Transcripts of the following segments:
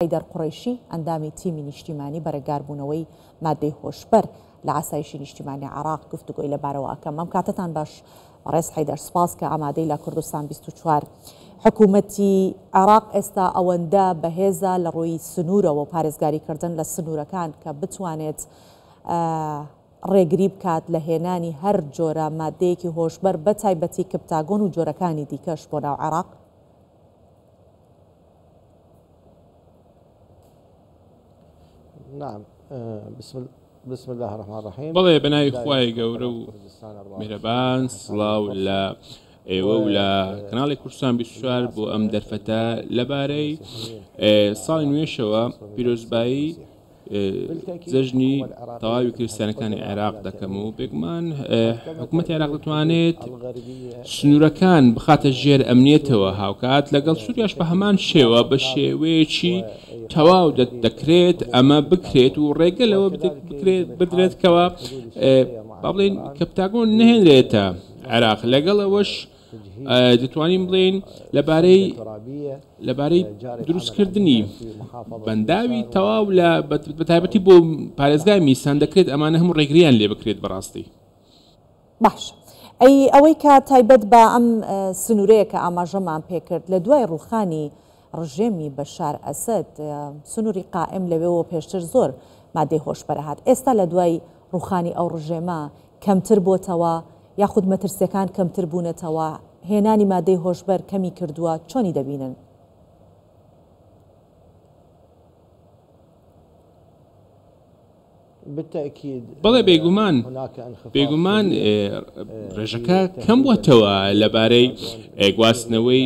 حەیدەر قوڕەیشی، ئەندامی تیمی نیشتیمانی بەرەگاربوونەوەی مادەی هۆشبەر لە ئاسایشی نیشتیمانی عێراق گفتوگۆی لەبارەوە ئەکەم. مام کاتەتان باش بەڕێز حەیدەر، سوپاس کە ئامادەی لە کوردستان بیست و چوار. حکوومەتی عێراق ئێستا ئەوەندە بەهێزە لە ڕووی سنوورەوە و پارێزگاریکردن لە سنوورەکان کە بتوانێت ڕێگری بکات لە هێنانی هەر جۆرە مادەیەکی هۆشبەر بەتایبەتی کپتاگۆن و جۆرەکانی دیکەش بۆ ناو عێراق؟ نعم بسم الله بسم الله الرحمن الرحیم بەڵێ بەناوی خوای گەورە و میرەبان سڵاو لە ئێوە و لە کەناڵی کوردستان 24 بۆ ئەم دەرفەتە لەبارەی ساڵی نوێشەوە پیرۆزبایی جەژنی تەواوی کریسیانەکانی عێراق دەکەم و بێگومان حکوومەت عێراق دەتوانێت سنوورەکان بخاتە ژێر ئەمنیەتەوە هاوکات لەگەڵ سووریاش بە هەمان شێوە بە شێوەیەکی تەواو دەکرێت ئەمە بکرێت و ڕێگە لەوە بکرێت بدرێت کەەوە با بڵێن کەپتاگۆن نهێنرێتە عێراق لەگەڵ ئەوەش دەتوانین بڵێین لەبارەی لەبارەی دروستکردنی بەنداوی تەواو لە بەتایبەتی بۆ پارێزگای میسان دەکرێت ئەمانە هەموو ڕێگریان لێ بکرێت بەڕاستی باش ئەی ئەوەی کە تایبەت بە ئەم سنوورەیە کە ئاماژەمان پێکرد لە دوای ڕوخانی ڕژێمی بەشار ئەسەد سنوری قائم لەوێوە پێشتر زۆر مادەی هۆشبەر ئەهات ئێستا لە دوای ڕوخانی ئەو ڕژێمە کەمتر بۆتەوە یاخود مەترسیەکان کەمتر بونەتەوە هێنانی مادەی هۆشبەر کەمی کردوە چۆنی دەبینن؟ بەڵێ بێگومان، بێگومان ڕێژەکە کەم بووەتەوە لەبارەی گواستنەوەی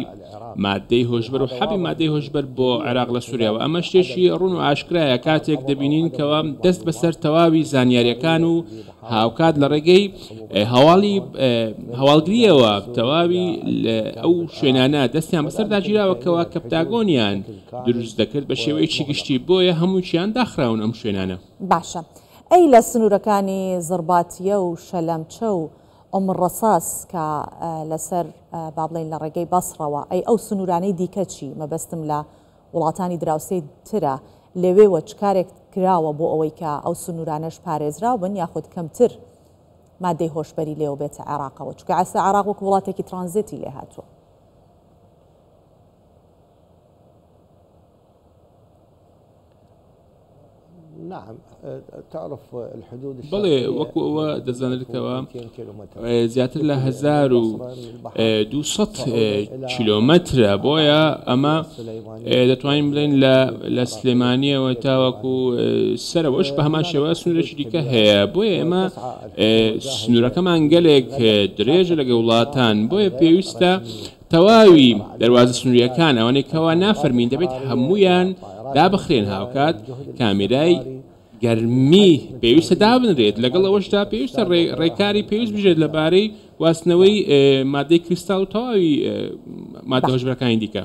ماددەی هۆشبەر و حەبی مادەی هۆشبەر بۆ عێراق لە سووریاوە، ئەمە شتێکی ڕوون و ئاشکرایە کاتێک دەبینین کەوا دەست بەسەر تەواوی زانیارییەکان و هاوکات لە ڕێگەی هەواڵی هەواڵگرییەوە تەواوی ئەو شوێنانە دەستیان بەسەردا گیراوە کەوا کەپتاگۆنیان دروست دەکرد بە شێوەیەکی گشتی بۆیە هەمووکیان داخراون ئەم شوێنانە. باشە ئەی لە سنورەکانی زڕباتیە و شەلەمچە و ئوم ڕەساس کە لەسەر با بڵێین لە ڕێگەی بەسڕەوە ئەی ئەو سنورانەی دیکە چی مەبەستم لە وڵاتانی دراوسێی ترە لەوێوە چ کارێک کراوە بۆ ئەوەی کە ئەو سنورانەش پارێزراو بن یاخود کەمتر مادەی هۆشبەری لێوە بێتە عێراقەوە چونکە ئێستا عێراق وەکو وڵاتێکی ترانزێتی لێهاتووە. بەڵێ وەکو ئەوە دەزانێتەوە زیاتر لە 1200 کیلۆمەترە بۆیە ئەمە دەتوانین بڵێن لە سلێمانیەوە تاوەکو سەرەوەش بە هەمان شێوە سنوورێکی دیکە هەیە بۆیە ئێمە سنوورەکەمان گەلێک درێژە لەگە وڵاتان بۆیە پێویستە تەواوی دەروازە سنوریەکان ئەوانەی کەوا نافەرمین دەبێت هەموویان دابخرێن هاوکات کامێرای گەرمی پێویستە دابنرێت لەگەڵ ئەوەشدا پێویستە ڕێکاری پێویست بژێت لەبارەی واستنەوەی مادەی کریستاڵ و تەواوی مادەهۆشبەرەکانی دیکە.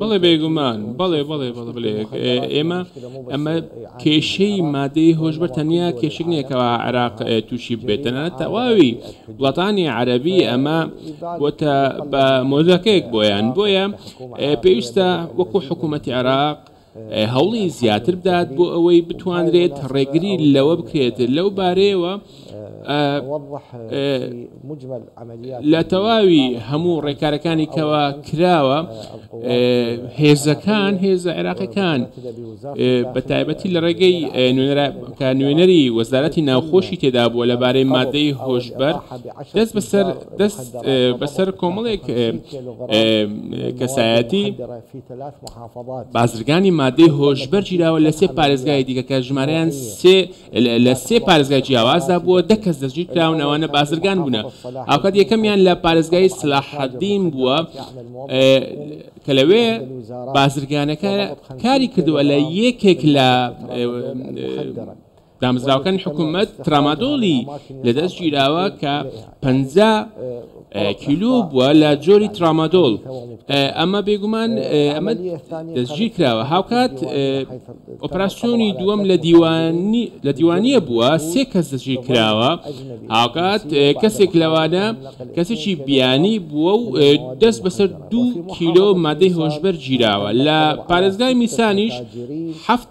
بەڵێ بێگومان بەڵێ بەڵێ بەڵێ بڵێ ئێمە ئەمە کێشەی مادەی هۆشبەر تەنیا کێشک نییەکەەوە عراق تووشی بێتەنە تەواوی وڵاتانی عەربی ئەمە بۆتە بە مۆزەکەیەک بۆیان بۆیە پێویستە وەکو حکوومەتتی عراق هەوڵی زیاتر بدات بۆ ئەوەی بتوانرێت ڕێگری لەوە بکرێت لەو بارەیەوە لە تەواوی هەموو ڕێکارەکانی کەوا کراوە هێزەکان هێزە عێراقەکان بە تایبەتی لە ڕێگەی نوێنەری وەزارەتی ناوخۆشی تێدا بووە لەبارەی مادەی هۆشبەر دەست بەسەر دەست بەسەر کۆمەڵێک کەسایەتی بازرگانی مادەی هۆشبەر گیراوە لە سێ پارێزگای دیکە کە ژمارەیان سێ لە سێ پارێزگای جیاوازدا بووە، دە کەس دەستگیر کراون، ئەوانە بازرگان بوونە، هاوکات یەکەمیان لە پارێزگای سەلاحەدین بووە کە لەوێ بازرگانەکە کاری کردووە لە یەکێک لە دامەزراوەکانی حکوومەت ترامادۆڵی لەدەست گیراوە کە پ کیلو بووە لە جۆری ترامادۆل ئەمە بێگومان ئەمە دەستگیر کراوە هاوکات ئۆپراسسیۆنی دووەم لە دیوانی لە دیوانیە بووە سێ کەس دەستگیر کراوە هاوکات کەسێک لەوانە کەسێکی بیانی بووە و دەست بەسەر دوو کیلۆ مادەی هۆشبەر گیراوە لە پارێزگای میسانیش هەفت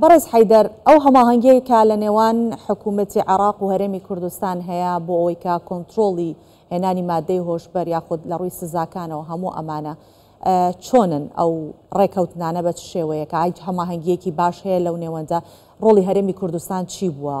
بەڕێز حەیدەر، ئەو هەماهەنگیەی کە لە نێوان حکوومەتی عێراق و هەرێمی کوردستان هەیە بۆ ئەوەی کە کۆنترۆڵی هێنانی ماددەی هۆشبەر یاخود لە ڕووی سزاکانەوە هەموو ئەمانە چۆنن ئەو ڕێکەوتنانە بە چ شێوەیەکە ئای هەماهەنگیەکی باش هەیە لەو نێوەندە ڕۆڵی هەرێمی کوردستان چی بووە؟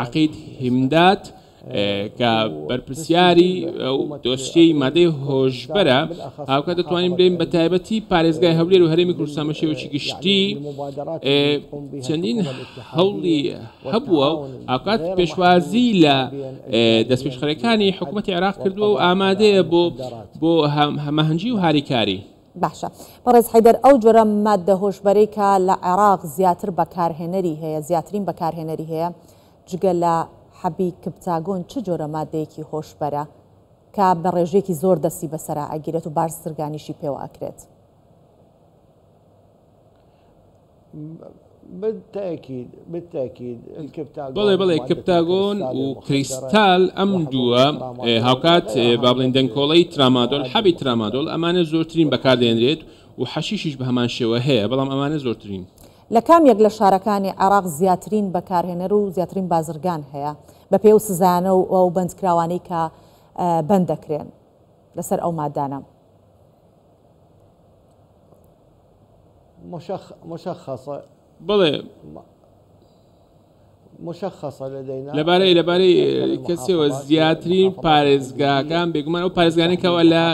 عەقید هیمداد، کە بەرپرسیاری ئەو دۆسیەی مادەی هۆشبەرە، هاوکات دەتوانین بلێین بە تایبەتی پارێزگای هەولێر و هەرێمی کوردستان بە شێوەیەکی گشتی چەندین هەوڵی هەبووە و هاوکات پێشوازی لە دەستپێشخەرەکانی حکوومەتی عێراق کردووە و ئامادەیە بۆ هەماهەنگی و هاریکاری. باشە بەڕێز حەیدەر ئەو جۆرە ماددە هۆشبەرەی کە لە عێراق زیاتر بەکارهێنەری هەیە زیاترین بەکارهێنەری هەیە جگە لە حەبی کپتاگۆن چ جۆرە ماددەیەکی هۆشبەرە کە بە ڕێژەیەکی زۆر دەستی بەسەرا ئەگیرێت و بارزگانیشی پێوە ئەکرێت؟ بەڵێ بەڵێ کپتاگۆن و کریستال ئەم دووە هاوکات با بڵێن دەنکۆڵەی ترامادۆل حەبی ترامادۆل ئەمانە زۆرترین بەکاردێنرێت و حەشیشیش بە هەمان شێوە هەیە بەڵام ئەمانە زۆرترین لە کام یەک لە شارەکانی عێراق زیاترین بەکارهێنەر و زیاترین بازرگان هەیە بەپێی ئەو سزایانە و ئەو بەندکراوانەی کە بەند دەکرێن لەسەر ئەو مادانە؟ بەڵێ. لەبارەی لەبارەی کەسیەوە زیاترین پارێزگاکان بێگومان ئەو پارێزگانێکەوە لە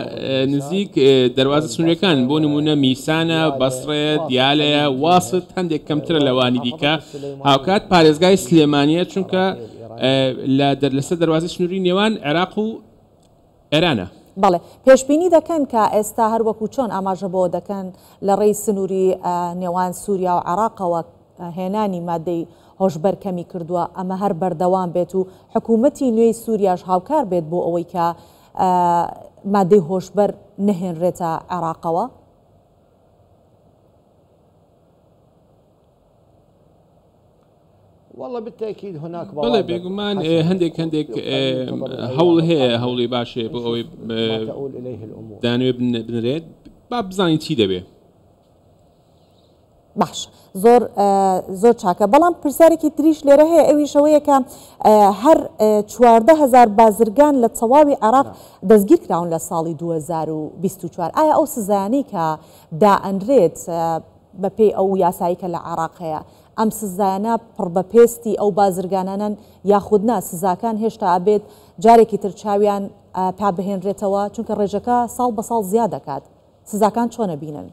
نزیک دەواازە سنوورەکان بۆ نمونە میسانە بەسڕەیە دیالەیە واست هەندێک کەمترە لەوانی دیکە هاوکات پارێزگای سلێمانە چونکە لە دەر لەسەر دەواازی سنووری نێوان عێراق و ئێرانە. بەڵێ، پێشبینی دەکەن کە ئێستا هەر وەکو چۆن ئاماژە بەوە دەکەن لە ڕێی سنووری نێوان سووریا و عێراقەوە هێنانی مادەی هۆشبەر کەمی کردووە، ئەمە هەر بەردەوام بێت و حکوومەتی نوێی سووریاش هاوکار بێت بۆ ئەوەی کە مادەی هۆشبەر نەهێنرێتە عێراقەوە؟ بەڵێ بێگومان هەندێک هەندێک هەوڵ هەیە هەوڵی باشێ بۆ ئەوەی دانوێ بنرێت با بزانین چی دەبێ باش زۆر زۆر چاکە بەڵام پرسیارێکی تریش لێرە هەیە ئەوی شەوەیەکە هەر چواردە هزار بازرگان لە تەواوی عراق دەستگیر کراون لە ساڵی 2024 ئایا ئەو سزانانی کە دائەنرێت بەپێی ئەو یاسایەی کە لە عێراق هەیە ئەم سزایانە پڕ بە پێستی ئەو بازرگانانەن یاخود نا سزاکان هێشتا ئەبێت جارێکی تر چاویان پا بهێنرێتەوە چونکە ڕێژەکە ساڵ بە ساڵ زیاد دەکات سزاکان چۆن ئەبینن؟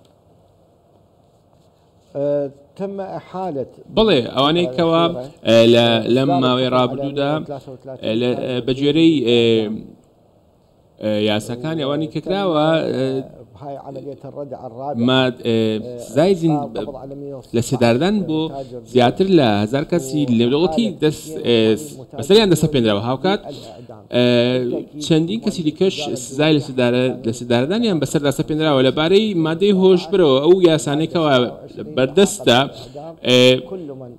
بەڵێ ئەوانەی کەوا لە لەم ماوەی ڕابردوودا بە گوێرەی یاساکانی ئەوانی کە کراوە سزای لە سێداردان بۆ زیاتر لە هزار کەسی لێدەوڵەتی بەسەریان دەسە پێنراوە هاوکات چەندین کەسی دیکەش سزای لە سێداردانیان بەسەر دەسە پێنراوە لەبارەی مادەی هۆشبرەوە ئەو یاسانێکەوە بەردەستە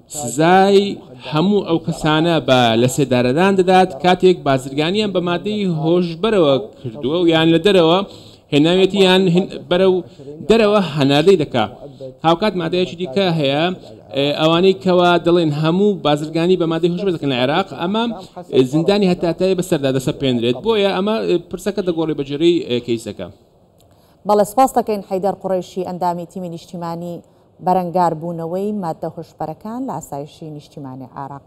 سزای هەموو ئەو کەسانە بە لەسێدارەدان دەدات کاتێک بازرگانیان بە مادەی هۆشبەرەوە کردووە و یان لە دەرەوە هێناویەتی یان بەرەو دەرەوە هەناردەی دەکا هاوکات مادەیەکی دیکە هەیە ئەوانەی کەوا دەڵێن هەموو بازرگانی بە مادەی هۆشبەر دەکەن لە عێراق ئەمە زیندانی هەتاتای بەسەردا دەسە پێنرێت بۆیە ئەمە پرسەکە دەگۆڕی بەجێرەی کەیسەکە. بەڵێ سپاس دەکەین حەیدەر قوڕەیشی ئەندامی تیمی نیشتیمانی بەرەنگاربوونەوەی ماددە هۆشبەرەکان لە ئاسایشی نیشتیمانی عێراق.